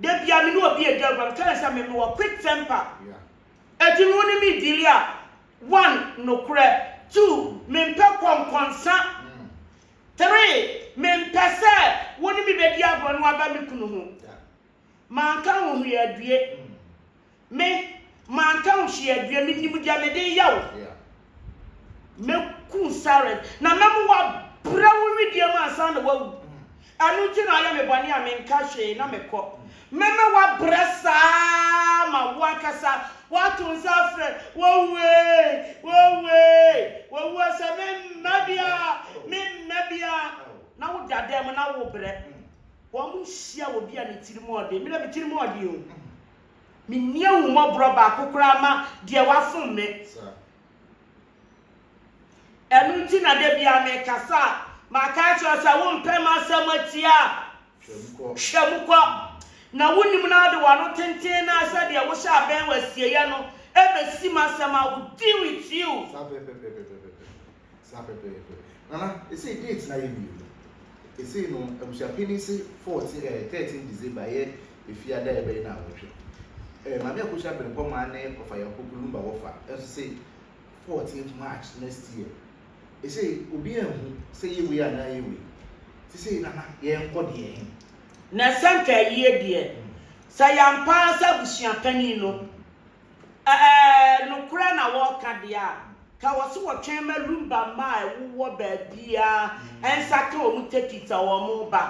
Da bia me ne obi redi agorɔ, I'm telling sɛ me mewɔ quick temper. Ɛti no wo ne me deal a, one, nokorɛ, two, mempɛ kɔnkɔnsa, three, mempɛ sɛ wo ne me bɛdi agorɔ na waba me kunu ho. Manka wo ho yɛ adue. Me, manka wo hwee aduɛ, menim deɛ mede reyɛ wo. Mɛku wo silent, na mɛma woabrɛ wo wedeɛ mu ansa na woawu. Ɛno nti na woayɛ me bɔne a menka hwee na mekɔ. Mɛma woabrɛ saa ara ma wo ankasa woato nsa afrɛ, Wawu ee! Wawu ee! Wawu ee! Sɛ memma bi a! Memma bi a! Na woda dan mu na worebrɛ. Wɔnhyia obi a ne tirim yɛ den. Me deɛ me tirim yɛ den o. Menni ahummɔborɔ baako koraa ma deɛ wafom me. Ɛno nti na da biara mekasa a, maka akyerɛ wo sɛ wompɛ m'asɛm atia a, hwɛ mu kɔ. Na wonim na wode w'ano tenten no ara sɛdeɛ wohyɛ abɛn w'asieyɛ no bɛsi m'asɛm a will deal with you. Saa pɛpɛɛpɛ. Nana, ɛsei date no ayɛ mmienu. Ɛsei no, abusuapanin se 14 ɛɛ 13 December yɛ Efia da a ɛbɛyɛ nnawɔtwe. Ɛɛ Maame Akosua Abrempɔmaa ne Ɔfa Yakubu Lumba Wɔfa nso se 14 March next year. Ɛsei obiara nhu sɛ yɛ wei anaa yɛ wei. Nti sei Nana, yɛnkɔ deɛ ɛhe? Na sɛ nka ayie deɛ, sɛ yɛampa ara sɛ abusuapanin no. Ɛɛ nokorɛ na wɔreka deɛ a, ka wɔ se wɔtwɛn ma Lumba mma a ɛwowɔ baabiara nsa ka wɔn tekit a wɔreba,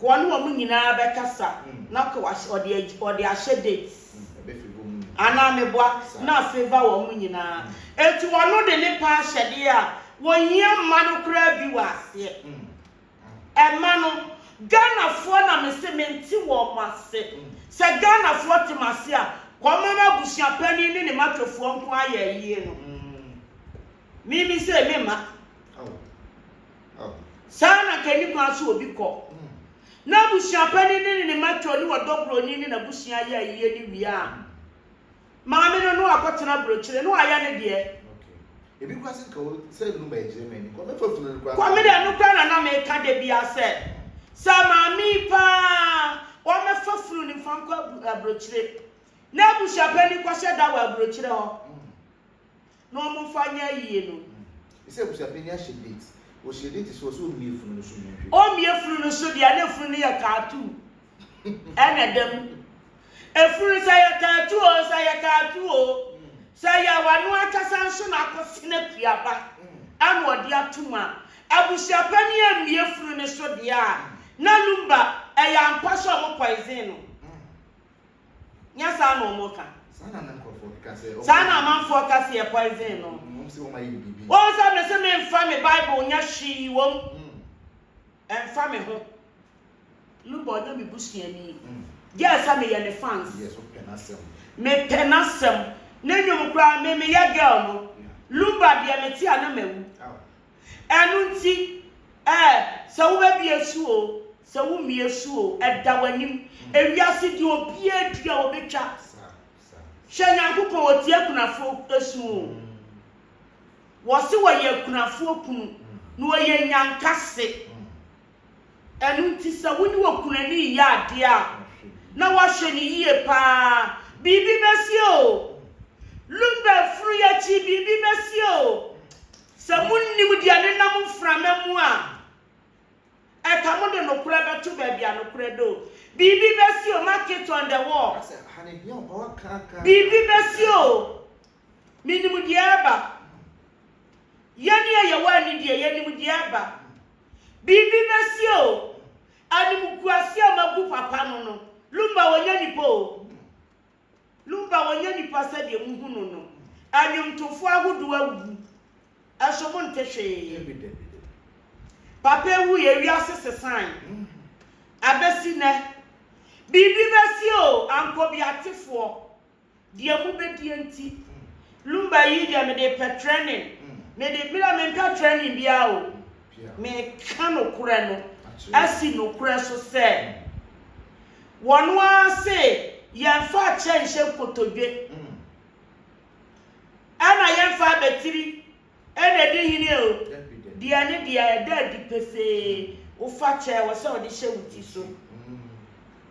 ka wɔne wɔn nyinaa bɛkasa na ka wɔde ahyɛ date anaa meboa na afavour wɔn nyinaa. Enti ɔno de ne paa hyɛdeɛ a wɔhia mma no koraa bi wɔ aseɛ. Ɛmma no. Ghanafoɔ na mese mente wɔn ase. Sɛ Ghanafoɔ te m'ase a, wɔmma m'abusuapanin ne ne matwefoɔ nko ara yɛ ayie no. Me me sei me mma. Saa na nka ɛni kwan sɛ obi kɔ n'abusuapanin ne ne matwe ne ɔdɔ buroni ne n'abusua yɛ ayie ne wie a. Maame no no akɔtena brokyire no ayɛ ne deɛ. Okay. Ebi kura se nka wo sɛ nnu ma ɛgyere ma ani. Kwame fa funu no kura. Kwame deɛ ɛno kura na na meka da biara sɛ sɛ maame yi paa ɔmɛfa funu no nfa nkɔ abrokyire na abusuapɛni kɔhyɛ da wɔ abrokyire hɔ. na wɔmfa nyɛ ayie no. Ɛsɛ sɛ abusuapanin no ahyɛ date. Ɔhyɛɛ date sɛ ɔsɛ ɔmmie funu no so nyɛ hwee. Ɔmmie funu no so deɛ a na funu no yɛ tattoo ɛna ɛda mu. Efunu sɛ ɛyɛ tattoo o, sɛ ɛyɛ tattoo o, sɛ ɛyɛ a ɔno ankasa nso na akɔsen akuaba ɛna ɔde ato mu a, abusuapanin ammie funu no so deɛ a, na Lumba ɛyɛ ampa sɛ wɔpoison no. Nyɛ saa na wɔn ka. Saa na amanfoɔ ka sɛ. Saa na amanfoɔ ka sɛ yɛ poison no. Wɔn sɛ wɔn ayɛ no biribi. Wɔn sɛ me sɛ me nfa me bible nyɛ hwee wɔm. Ɛnfa me ho. Luba ɔnyɛ me busuani. Gyɛɛ sɛ me yɛ ne fans. Yes wo pɛ n'asɛm. Me pɛ n'asɛm. Ne nwom koraa me me yɛ girl no. Luba deɛ me te a na ma wu. Ɛno nti, ɛ, sɛ wobɛbue so oo, sɛ wommue so oo, ɛda w'anim. Ewiase deɛ obiara dua a ɔbɛtwa. Hwɛ Nyankopɔn, ɔtie akunafoɔ su oo. Wɔse wɔyɛ akunafoɔ kunu, na ɔyɛ nyankase. Ɛno nti sɛ wo ne w'okunani reyɛ adeɛ a, na woahwɛ no yie pa ara. Biribi bɛsi o. Lumba funu yi akyi biribi bɛsi o. Sɛ monnim deɛ ne nam mframa mu a, ɛka mo de nokorɛ bɛto baabi a nokorɛ da o. Biribi bɛsi o, mark it on the wall. Biribi bɛsi o. Menim deɛ ɛreba. Yɛn a yɛwɔ ani deɛ, yɛnim deɛ ɛreba. Biribi bɛsie o. Animguaseɛ a wɔagu papa no no, Lumba ɔnyɛ nipa o. Lumba ɔnyɛ nipa sɛdeɛ mohu no no. Nnwomtofoɔ ahodoɔ awuwu. Nso monte hwee. Papa awuiɛ, wiase sesae. Abɛsi nnɛ, biribi bɛsie o, Ankobiatefoɔ. Deɛ mo bɛ die nti. Lumba yii deɛ me de pɛ trending me de me deɛ me mpɛ trending bia o me ka no korɛ no asi no korɛ so sɛ wɔn ara se yɛn fa akyɛ nhyɛ nkotodwe ɛna yɛn fa abɛtiri Ɛna di hene o. Deɛ ne deɛ ɛda adi pefee, wofa kyɛ ɛwɔ sɛ wode hyɛ wo ti so.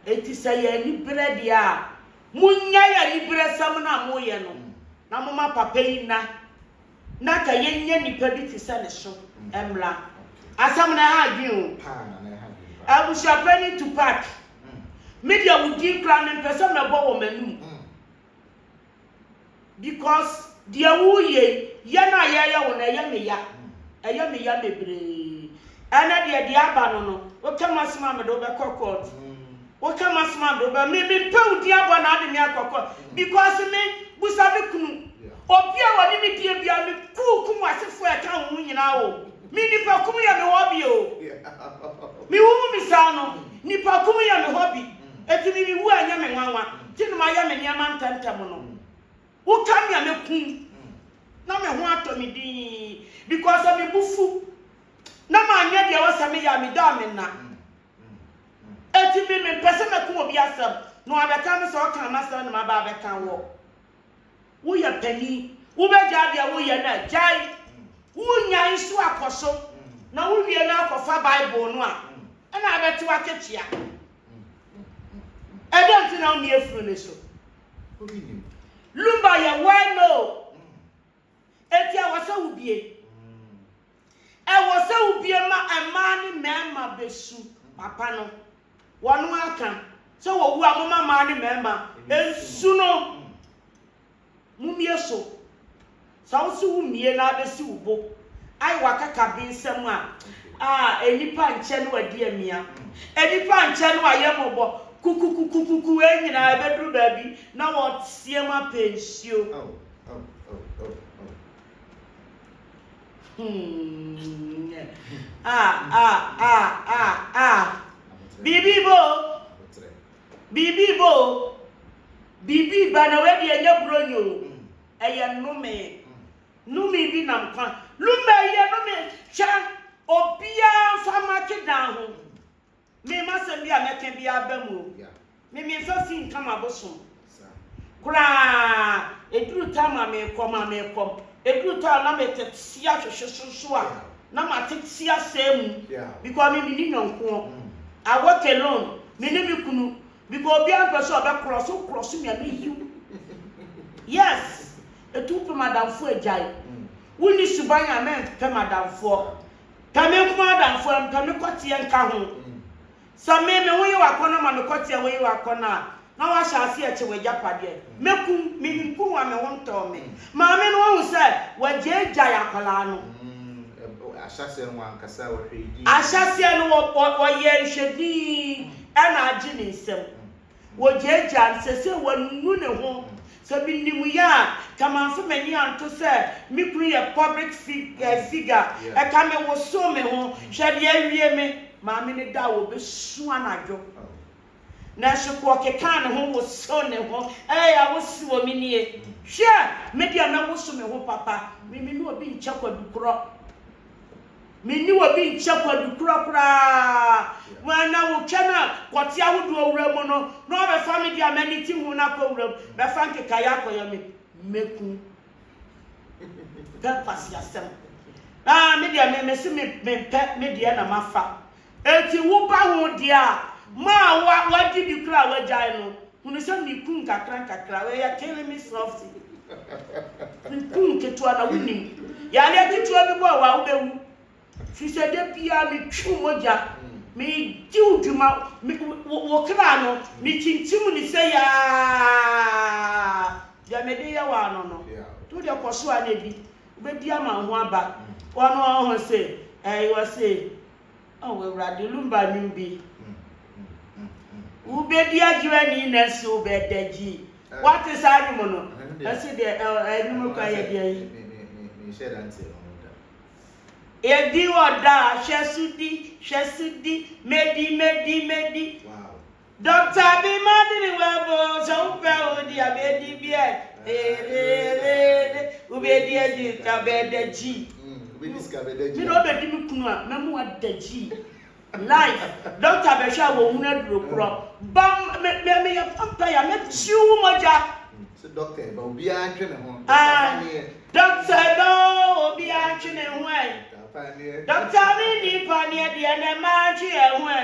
Enti sɛ yɛ anibere deɛ a, monnyae aniberesɛm no a moyɛ no na momma papa yi nna na ka yɛnya nnipa bi te sɛ ne so mmra. Asɛm no ɛha adwene o. Abusuapanin Tupac, me deɛ wo din koraa mempɛ sɛ mɛbɔ wɔ m'anum. Because deɛ woreyɛ yi, yɛ no a yɛreyɛ wo no, ɛyɛ me ya. Ɛyɛ me ya bebree. Ɛnɛ deɛ deɛ aba no no, woka m'asɛm a mede wo bɛkɔ court. Woka m'asɛm a mede wo bɛ me mempɛ wo din abɔ na ade me akɔ court. Because me busa me kunu. Obi a ɔne me die biara me kuu kum w'asefoɔ a ɛka wo ho nyinaa o. Me nipa kum yɛ me hobby o. Me wo mu me saa no, nipa kum yɛ me hobby. Enti me me wu a ɛnyɛ me nwanwa nti na mayɛ me nneɛma ntɛmntɛm no. Woka me a mɛkum na me ho atɔ me dinn because sɛ me bo fu na manyɛ deɛ ɛwɔ sɛ meyɛ a meda a menna. Enti me mempɛ sɛ mɛka obi asɛm na wabɛka me sɛ ɔkaa m'asɛm na maba abɛka wɔ. Woyɛ panyin, wobɛgyae deɛ woyɛ no a, gyae. Wonya nso a, kɔ so. Na wowie no a, kɔfa Bible no a, ɛnna abɛte w'akatua. Ɛdɛn nti na womia funu no so? Lumba yɛ well-known. Enti ɛwɔ sɛ wobue. Ɛwɔ sɛ wobue ma mmaa ne mmarima besu papa no. Wɔn ara ka sɛ wɔwu a momma mmaa ne mmarima nsu no. Mummue so. Sɛ wo se wummue na abesi wo bo ayɛ w'akaka bensam a, ah, nnipa nkyɛ ne w'adi amia. Nnipa nkyɛ ne w'ayɛ mmɔbɔ. Kukukukukuku wei nyinaa ɛbɛduru baabi na wɔteɛm apɛ nsuo. Biribi ba o. Biribi ba o. Biribi ba na wei deɛ ɛnyɛ buro nyo. Ɛyɛ nnome. Nnome bi nam kwa. Lumba ɛyɛ nnome. Hwɛ obiara nfa make dan ho. Mema asɛm bi a mɛka biara aba mu o. Me me nfa fii nka m'abosom koraa. Ɛduru ta ma mekɔ ma mekɔ. Ɛduru ta na metete si ahwehwe so so a na matete si asɛe mu because me menni nyɔnkoɔ. I work alone. Me ne me kunu because obiara mpɛ sɛ ɔbɛ cross wo cross me a meyiw. Yes, ɛtu wopɛ madamfoɔ agyae. Wonni suban a mɛmpɛ madamfoɔ. Pɛ me nko adamfo a, mpɛ me kɔteɛ nka ho. Sɛ me, me ho ye w'akɔnnɔ ma me kɔteɛ wo ye w'akɔnnɔ a, na woahyɛ aseɛ kye w'agyapadeɛ. Mɛku wo, menim kunu a me ho ntɔɔ me. Maame no ahu sɛ wɔagyaagyae akwadaa no. Ahyɛaseɛ no wankasa, ɔhwɛɛ dinn. Ahyɛaseɛ no ɔyɛɛ nhwɛ dinn na agye ne nsam. Wɔgyaagyaa no, seesei wanu ne ho. Sɛ minim yɛ a, nka mamfa m'ani anto sɛ me kunu yɛ public figure. Ɛka me wosow me ho. Hwɛ nea awie me! Maame no da a wɔbesu anadwo. Nanso Kwo kekaa ne ho wosow ne ho. Ee, a wosi wɔ me nie. Hwɛ! Me deɛ mɛwoso me ho papa. Meme ne obi nkyɛ kwadu korɔ. Me ne obi nkyɛ kwadu korɔ koraa. Mo ɛna wo twɛ no a kɔte ahodoɔ wura mu no na ɔbɛfa me deɛ a m'ani te ho no akɔ wura mu bɛfa nkekaeɛ akɔyɛ me mɛku pɛ kwasiasɛm ah me deɛ me mese me mempɛ me deɛ na mafa Enti wo ba ho deɛ a, ma a wa, wadi bi koraa a wagyae no, hunu sɛ me ku nkakrankakra, we are killing me softly. Me ku nketewa na wonim. Yareɛ ketewa bi bɔ wo a, wobɛwu. Firi sɛ da biara metwi wo mogya, megye wo dwuma, me, wo, wo kra no, mekyinkyim ne sɛ yaa. Deɛ mede yɛ wo ano no, nti wo deɛ kɔ so ara na di. Wobɛdi ama wo ho aba. Wɔn a wɔhu se ɛɛ wɔ se oh Awurade lumba nnwom bi. Wobɛdi agye w'ani na nso wobɛda gyi. Wate saa nnwom no? Ɛse deɛ ɛɛ nnwom kora yɛ deɛ yi. Menhyɛ da nte ɛno no da. Yɛdi wɔ da, hwɛ so di, hwɛ so di, medi, medi, medi. Wow. Doctor bi ma de ne wɛbo sɛ wopɛ o di abɛdi bi ɛ ererere wobɛdi adi ka bɛda gyi wobɛdi sika bɛda gyi mi na ɔbɛdi me kunu a mɛmu ada gyi life doctor bɛhwɛ a wɔhunu aduro korɔ ba me meyɛ vampire mɛkyiw wo mogya sɛ doctor ba obiara ntwe ne ho doctor ba ne Dɔkta no obiaa ntwe ne ho ɛ Dɔkta me nni paneɛ deɛ nɛ ma ntwe yɛn ho ɛ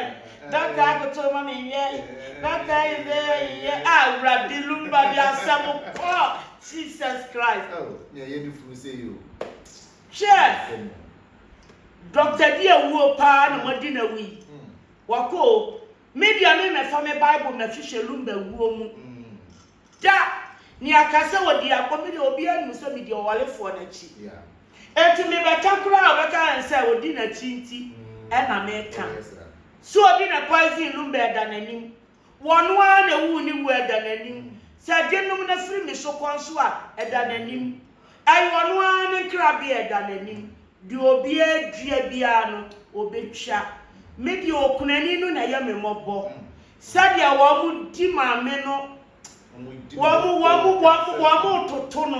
Dɔkta koto ma me nyɛ Dɔkta yi de yɛ Awurade lumba de asɛm kɔ Jesus Christ Oh nea yɛ de funu sɛ yi oh Hwɛ Dɔkta bi awuo paa na moadi no awu yi Wakɔ o Me deɛ me mɛfa me bible mɛhwehwɛ lumba wuo mu Da! Nea ka sɛ ɔdi agbo bi deɛ obiara nim sɛ medi ɔwarefoɔ no akyi. Enti mebɛka koraa a ɔbɛka yɛn sɛ ɔdi n'akyi nti na meka. So ɔdi ne poison nom bɛ ɛda n'anim? Wɔno ara na ɛwuu ne wuo ɛda n'anim. Sɛ gye nom na firi me so kɔ nso a ɛda n'anim. Ɛyɛ ɔno ara ne nkrabea a ɛda n'anim. Deɛ obiara dua biara no, ɔbɛtwa. Me deɛ, okunani no na ɛyɛ me mmɔbɔ. Sɛdeɛ wɔdi maame no, wɔtoto no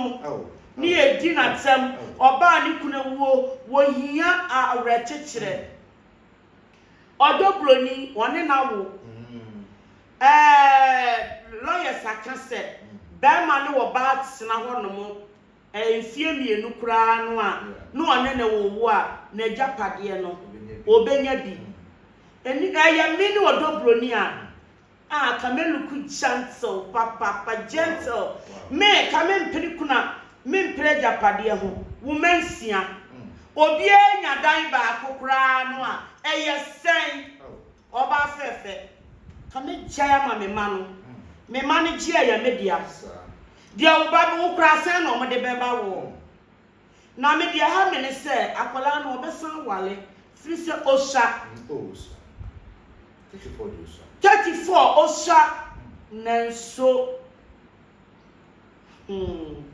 ne yɛdi no atɛm. Ɔbaa a ne kunu awuo, ɔhia awerɛkyekyerɛ. Ɔdɔ buroni, ɔne no awo. Ɛɛ, lawyers aka sɛ barima ne ɔbaa tena hɔnom ɛɛ mfeɛ mmienu koraa no a, na ɔne no wowo a, n'agyapadeɛ no, ɔbɛnya bi. Ɛni, ɛyɛ me ne ɔdɔ buroni a. Ah Kameluku gentle papaapa gentle Me ka me mpene kunu a me mpere agyapadeɛ ho Wo mma nsia obiara nya dan baako koraa no a ɛyɛ sɛn Ɔbaa fɛɛfɛ ka me gyae ama me mma no Me mma no gye ɛyɛ me dea Deɛ wo ba bɛ wo koraa sɛn na wɔde bɛba wo Na me deɛ ɛha me ne sɛ akwadaa no ɔbɛsan aware firi sɛ ɔsua. Oh ɔsua. 34 deɛ ɔsua. 34 ɔsua nanso hmm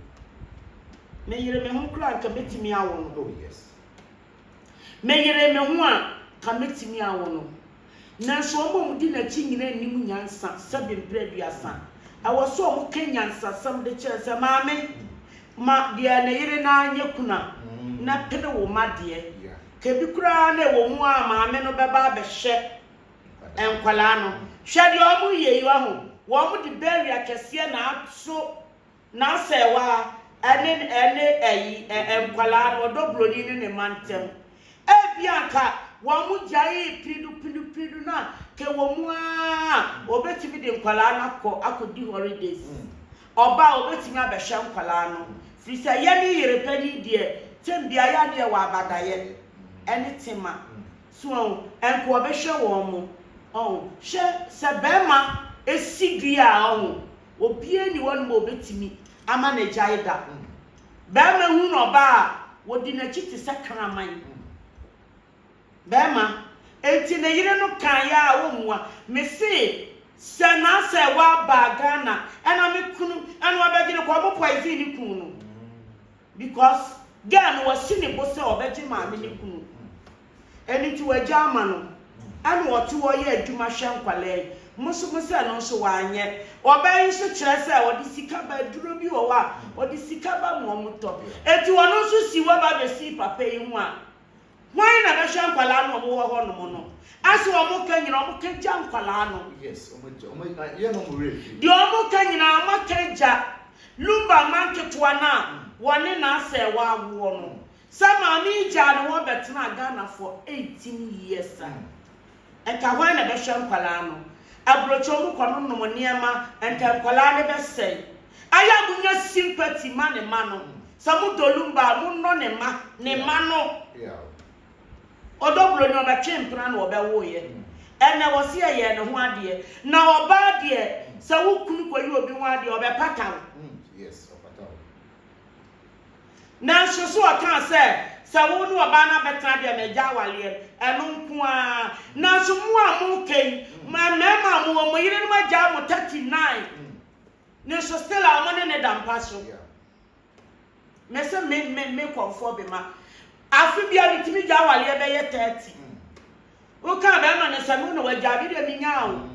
me yere me ho koraa nka mɛtumi awo no. Oh yes. Meyeree me ho a, ka metumi awo no. Nanso wɔn a wɔdi n'akyi nyinaa nnim nyansa sɛbe mpere aduasa. Ɛwɔ sɛ wɔka nyansasɛm de kyerɛ no sɛ, Maame, ma deɛ ne yere no ara nyɛ kunu a, na pene wo mma deɛ. Ka ebi koraa na ɛwɔ mu a maame no bɛba abɛhwɛ nkwadaa no. Hwɛ deɛ wɔreyɛ yi, wahu? Wɔde barrier kɛseɛ na ato N'asɛewaa ne ne ayi ɛ nkwadaa no, ɔdɔ broni ne ne mma ntɛm. Ebia anka wɔn gyae piridu piridu piridu na ka ɛwɔ mu ara ɔbɛtumi de nkwadaa no akɔ akɔdi holidays. Ɔba a ɔbɛtumi abɛhwɛ nkwadaa no. Firi sɛ yɛ ne yere pɛde yi deɛ tɛm biara yɛ a ne yɛwɔ abadaeɛ ɛne tema. So ahu? Ɛnka ɔbɛhwɛ wɔn. Ɔhu? Hwɛ sɛ bɛɛma ɛsi dua a, ɔhu? Obiara nni hɔnom a obetumi ama no agyae da. Barima hu na ɔbaa a, wodi n'akyi te sɛ kraman. Barima, Enti ne yere no kaeɛ a ɔmmua. Mese sɛ na sɛ wabaa Ghana ɛna me kunu ɛna ɔbɛgye no kɔ, ɔmo poison ne kunu no because girl no wasi ne bo sɛ ɔbɛgye maame ne kunu. Ɛno nti w'agya ama no ɛna ɔte hɔ yɛ adwuma hwɛ nkwadaa yi. Mo nso mo sɛ no nso wanyɛ. Ɔbaa yi nso kyerɛ sɛ ɔde sika ba aduro bi wɔ hɔ a ɔde sika ba ma wɔn tɔ. Enti ɔno nso si hɔ ba bɛsii papa yi ho a, hwan na bɛhwɛ nkwadaa no a wɔwɔ hɔ nom no? Ase wɔn ka nyinaa wɔn ka gya nkwadaa no. Yes, wɔn gya, wɔn ah, yɛ na wɔn werɛ firi. Deɛ wɔn ka nyinaa wɔn aka gya Lumba mma nketewa no a wɔne n'asɛɛwa awoɔ no. Sɛ maame yi gyaa ne hɔ bɛtenaa Ghana for eighteen years a, nka hwan na bɛhwɛ nkwadaa no? Aburokyiɔ mu kɔ no nom nneɛma, nka nkwadaa no bɛsɛe. Ayɛ a monya sympathy ma ne mma no. Sɛ mo dɔ Lumba a, mo nnɔ ne mma, ne mma no. Ɔdɔ Buroni, ɔbɛtwee mpena na ɔbɛwoeɛ. Ɛnɛ wɔse yɛyɛɛ ne ho adeɛ. Na ɔbaa deɛ, sɛ wo kunu kɔyi obi ho adeɛ a, ɔbɛpata wo. Nanso, so ɔkaa sɛ, Sɛ wo ne ɔbaa no abɛtena deɛ, magya awareɛ no. Ɛno nko ara. Nanso, mo a moreka yi, mmarima a mowɔ, mo yerenom agyaa mo 39, nanso still a wɔne no da mpa so. Mese me, me, me kɔmfoɔ bema. Afe biara metumi gya awareɛ bɛyɛ 30. Wokaa bɛrima no sɛ, Me wo na wagyaa me deɛ menyaa o.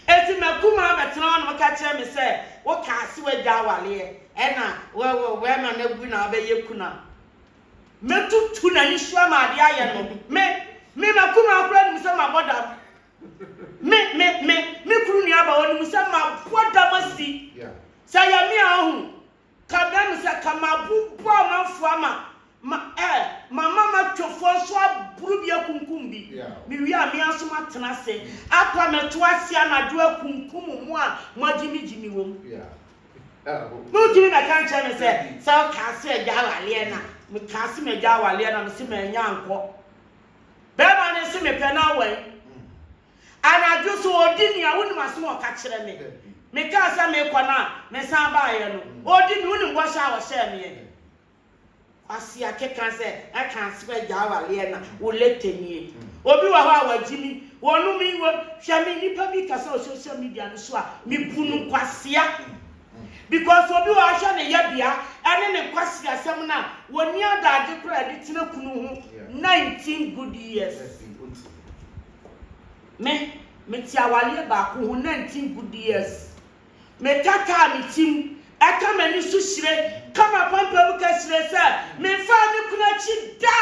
Enti m'akumaa abɛtena hɔ na woka kyerɛ me sɛ wokaa se wagyaa awareɛ ɛna bɛrima no awu na wabɛyɛ kunu a, mɛtutu n'ani so ama adeɛ ayɛ no. Me, me m'akumaa koraa nim sɛ mabɔ dam. Me, me, me, me kunu nuaba ɔnim sɛ mabɔ dam asi. Sɛ yɛ me a ɔhu. Ka brɛ me sɛ ka mabobɔ amanfoɔ ama ma eh mama matwafoɔ nso aboro bi akunkum bi mewie a me ara nso matena ase apa mɛto ase anadwo akunkum mo a moagyimigyimi wɔ mu na wotumi bɛka nkyerɛ me sɛ sɛ wokaa se agya awaleɛ na mekaa se magya awaleɛ na mese manya nkɔ bɛrima no se mepɛ no awɛn Anadwo so ɔdi me a, wonim asɛm a ɔka kyerɛ me? Mekaa sɛ merekɔ no a, mesan baeɛ no, ɔdi me, wonim bɔhyɛ a ɔhyɛɛ meɛ? Kwasi akeka sɛ, Ɛka sɛ wagya awaleɛ na wo later nie. Obi wɔ hɔ a wagye me, wɔnom me, wɔ, hwɛ me nipa bi kasa wɔ social media no so a, mebu no nkwasea. Because obi wɔ hɔ ahwɛ ne yɛbea ɛne ne nkwaseasɛm no a, wɔnni adagye koraa de tena kunu ho 19 good years. Me, mete awareɛ baako ho na nte nku DS. Me tataa me ti mu, ɛka m'ani so hyire, ka m'apampam ka hyire sɛ memfaa me kunu akyi da!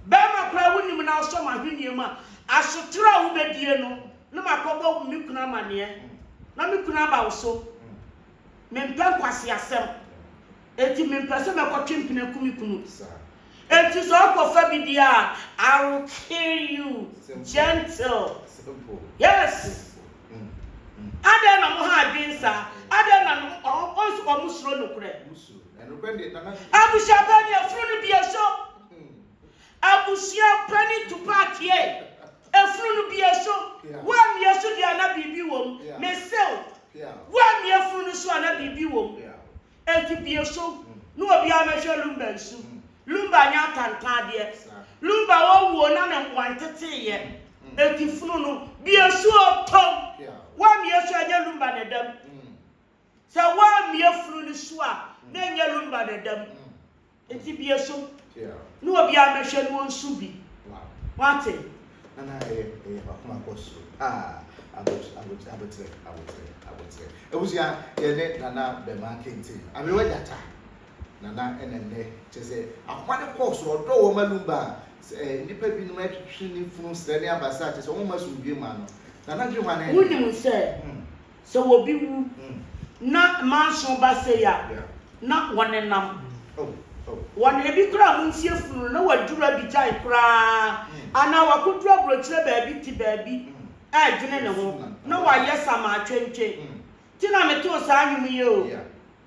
Bɛrima koraa wonim na wosɔ m'ahweneɛ mu a, asotere a wobɛdie no na makɔbɔ me kunu amaneɛ na me kunu aba wo so. Mempɛ nkwaseasɛm, enti mempɛ sɛ mɛkɔtwe mpena aku me kunu. Enti sɛ ɔkɔfa bi deɛ a, I will kill you. Gentle. Yes. Adɛn na wɔn ha adwene saa? Adɛn na wɔn nso wɔsuro nokorɛ? Abusuapanin, afunu no bie so. Abusua panin Tupac tiee. Efunu no bue so. Woammue so deɛ a na biribi wɔ mu. Mese wo, woammue efunu no so a na biribi wɔ mu. Enti bue so na obiara mmɛhwɛ Lumba nsu. Lumba nyɛ atantaadeɛ. Lumba wawu o, na ne mmoa nteteeɛ. Enti funu no, bue so o, tom! Woammue so a, ɛnyɛ Lumba na ɛda mu. Sɛ woammue funu no so a, na ɛnyɛ Lumba na ɛda mu. Enti bue so na obiara mmɛhwɛ na onsu bi. Woate? Na na ɛyɛ ɛyɛ bakoma kɔ soro. Ah, abot, abot, aboterɛ, aboterɛ, aboterɛ. Abusua, yɛn ne Nana Bɛmaa Kente, Aberewa Gyata, Nana ɛna nnɛ, kyerɛ sɛ, akoma no kɔɔ soro, ɔdɔɔ wɔn ma Lumba, sɛ, ɛɛ, nnipa binom retwetwe ne funu srɛ ne abasa, kyerɛ sɛ, wɔmma asomdwoe mma no. Nana Dwehwane. Wunim sɛ, Sɛ obi wu na manso ba sei a, na wɔnenam wɔn. Ebi koraa wonsie funu no na wɔaduru Abidjan koraa anaa wɔakɔduru aburokyerɛ baabi te baabi redwene ne ho na wɔayɛ samaa twentwen. Nti na metoo saa nnwom yi o.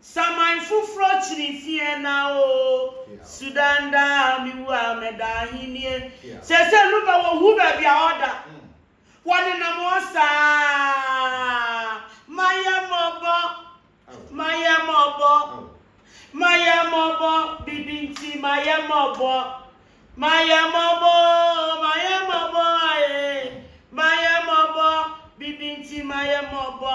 Saman foforɔ kyini fiɛɛ na oo Sudan daa me wu a mɛda ahennie Sɛsɛ no bɛ wɔ hu baabi a ɔda Wɔ ne nam ɔ saa Ma yɛ mɔbɔ Ma yɛ mɔbɔ Ma yɛ mɔbɔ Bibi nti ma yɛ mɔbɔ Ma yɛ mɔbɔ oo Ma yɛ mɔbɔ ee Ma yɛ mɔbɔ Bibi nti ma yɛ mɔbɔ.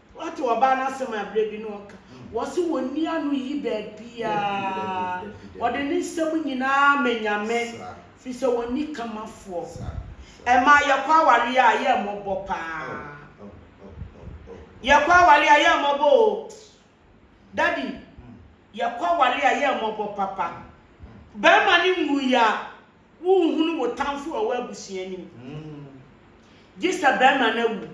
Wate ɔbaa no asɛm a berɛ bi na ɔka, ɔse ɔnni ano yi baabiara, ɔde ne nsɛm nyinaa ma Nyame, firi sɛ ɔnni kamafoɔ. Ɛmaa yɛkɔ awareɛ a yɛ mmɔbɔ paa. Yɛkɔ awareɛ a yɛ mmɔbɔ o. Daddy, yɛkɔ awareɛ a yɛ mmɔbɔ papa. Bɛɛma no nwuiɛ a, Wonhunu wo tamfo a ɔwɔ abusua anim gye sɛ barima no awu.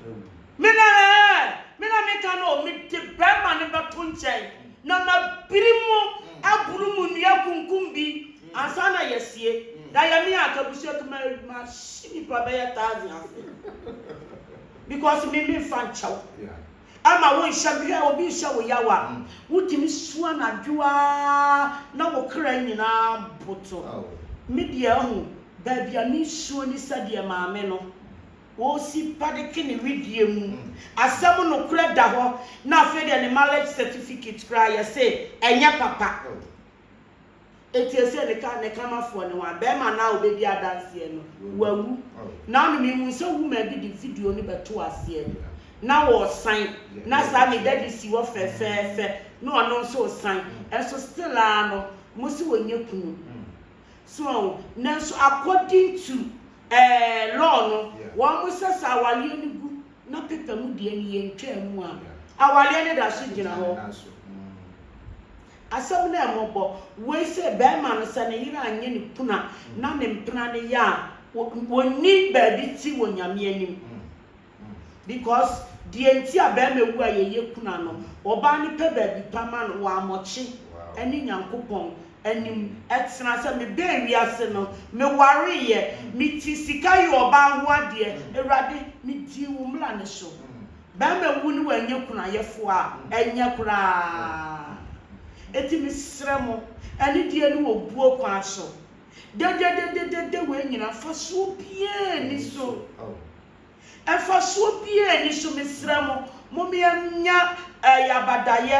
Me na ɛɛ, me na meka no o, mede barima no bɛto nkyɛn na mabiri mu aburu mu nnua akunkum bi ansa na yɛasie. Da yɛ me a anka abusua kumaa bi mahye nnipa bɛyɛ thousand ase because me memfa nkyɛ wo. Ɛmma wonhyɛ me. Hwɛ, obi rehyɛ wo yaw a, wutumi su anadwo ara na wo kra nyinaa boto. Me deɛ, ahu, baabi a minsuo ne sɛdeɛ Maame no, wɔsi padeke ne wedeɛ mu. Asɛm nokorɛ da hɔ, na afei deɛ ne marriage certificate koraa, yɛse ɛnyɛ papa. Enti ɛsɛ ne ka ne kamafoɔ ne hwan? Barima no a ɔbɛdi adanseɛ no, wawu. Naomi, mehunu sɛ woman bi de video no bɛtoo aseɛ na wɔresan, na saa me daddy si hɔ fɛfɛɛfɛ na ɔno nso resan, nso still ara no mose wɔnyɛ kunu. So wahu? Nanso according to eh, law no, wɔsɛ sɛ awareɛ no gu na paper mu deɛ no yɛntwaa mu a, awareɛ no da so gyina hɔ. Asɛm no a ɛmɔbɔ woi sɛ bɛɛma no sɛ ne yere anyɛ ne kunu a na ne mpena no yɛ a wɔnni baabi ti wɔ Nyame anim because deɛ nti a bɛɛma wu a yɛyɛ kunu a no ɔbaa no pɛ baabi pa ma no wɔamɔkye ɛne Nyankopɔn anim ɛtena sɛ me bɛɛ wiase no me wareeɛ me ti sika yɛ ɔbaa ho adeɛ Awurade me dii wo mmra no so Bɛɛma wu ne w'anyɛ kunayɛfoɔ a ɛnyɛ koraa. Enti mesrɛ mo, anidie ne obuo kwan so dɛdɛdɛdɛdɛdɛ wei nyinaa mfasoɔ biara nni so. Mfasoɔ biara nni so, mesrɛ mo, momeɛnya ɛɛ yabadayɛ